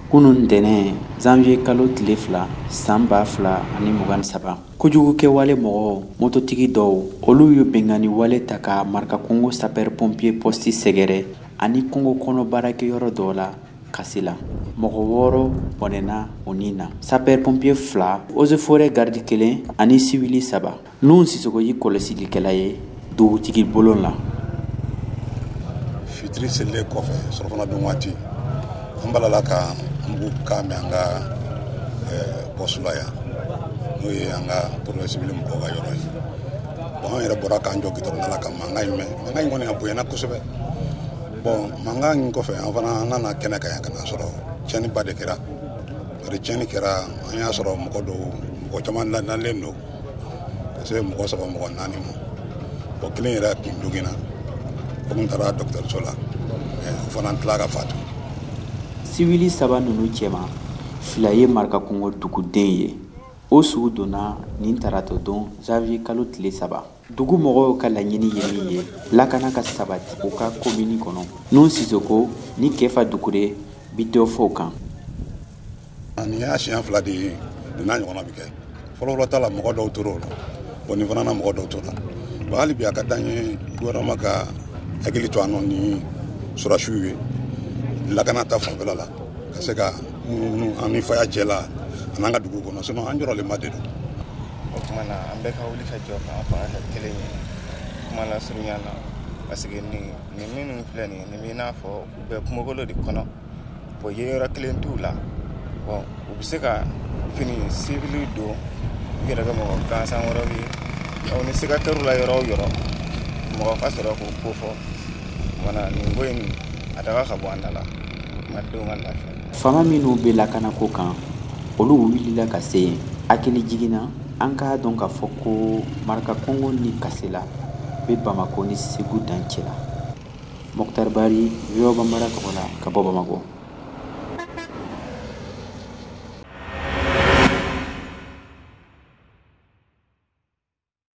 kunu ntɛnɛn zanviye kalo tile fila san ba fila ani mugan ni saba kojugu kɛwale mɔgɔw mototigi dɔw olu ye binkanni wale ta ka marakakungo sapɛri pompiye pɔsti sɛgɛrɛ ani kungo kɔnɔ baarakɛyɔrɔ dɔw la kasela mɔgɔ wɔɔrɔ bɔnɛna u ni na sapɛri pompiye fila ozeforɛ garidi kelen ani siwili saba Nun Sisoko ye kɔlɔsilikɛla ye dugutigi bulon la. Fitiri selilen kɔfɛ surafana dun waati, an balala ka mugukan mɛn an ka pɔsti la yan, n'o ye an ka porotɛkisiyɔn sivili mɔgɔw ka yɔrɔ ye. Bon an yɛrɛ bɔra k'an jɔ gitɔrɔnda la ka mankan in mɛn, mankan in kɔni a bonyana kosɛbɛ. Bon mankan in kɔfɛ, an fana an nana kɛnɛ kan yan ka n'a sɔrɔ tiɲɛniba de kɛra. Bari tiɲɛni kɛra, an y'a sɔrɔ mɔgɔ dɔw, mɔgɔ caman dalen don. se mɔgɔ saba mɔgɔ naani ma o kelen yɛrɛ tun joginna o tun taara dɔgɔtɔrɔso la o fana tila ka fatu siwili saba ninnu cɛma fila ye marakakungo duguden ye u su donna nin tarato don janvier kalo tile saba dugu mɔgɔw ka laɲini ye min ye lakana ka sabati u ka komini kɔnɔ nun sisoko ni kefa dukure bɛ dɔ fɔ o kan nin y'a siɲɛ fila de ye nin n'a ɲɔgɔnna bɛ kɛ fɔlɔfɔlɔ ta la mɔgɔ dɔw tor'o la bon nin fana na mɔgɔ dɔw tora bon hali bi a ka d'an ye gouvernement ka hakili to an nɔ ni sɔrɔdasiw ye lakana ta fanfɛla la ka se ka munumunu an ni faya cɛ la an'an ka dugu kɔnɔ sinon an jɔrɔlenba de don o tuma na an bɛɛ ka wuli ka jɔ k'an fanga kɛ kelen ye kuma lasurunya na parce que nin nin minnu filɛ nin ye nin bɛ i n'a fɔ u bɛ kungokolon de kɔnɔ bɔn yeyɔrɔ kelen t'u la bɔn u bɛ se ka fini sivili don u yɛrɛ kɛ mɔgɔ gansan wɛrɛw ye aw ni siga kɛr'u la yɔrɔ o yɔrɔ mɔgɔ ka sɔrɔ k'u kofɔ mana nin ko in a daga ka bɔ an da la malidenw ka lafiya faama minnu bɛ lakanako kan olu wulila ka se yen hakilijigin na an k'a dɔn k'a fɔ ko marakakungo ni kasela bɛ bamako ni segu dancɛ la Mokhtar Bari, VOA Bambara tɔgɔ la ka bɔ Bamakɔ.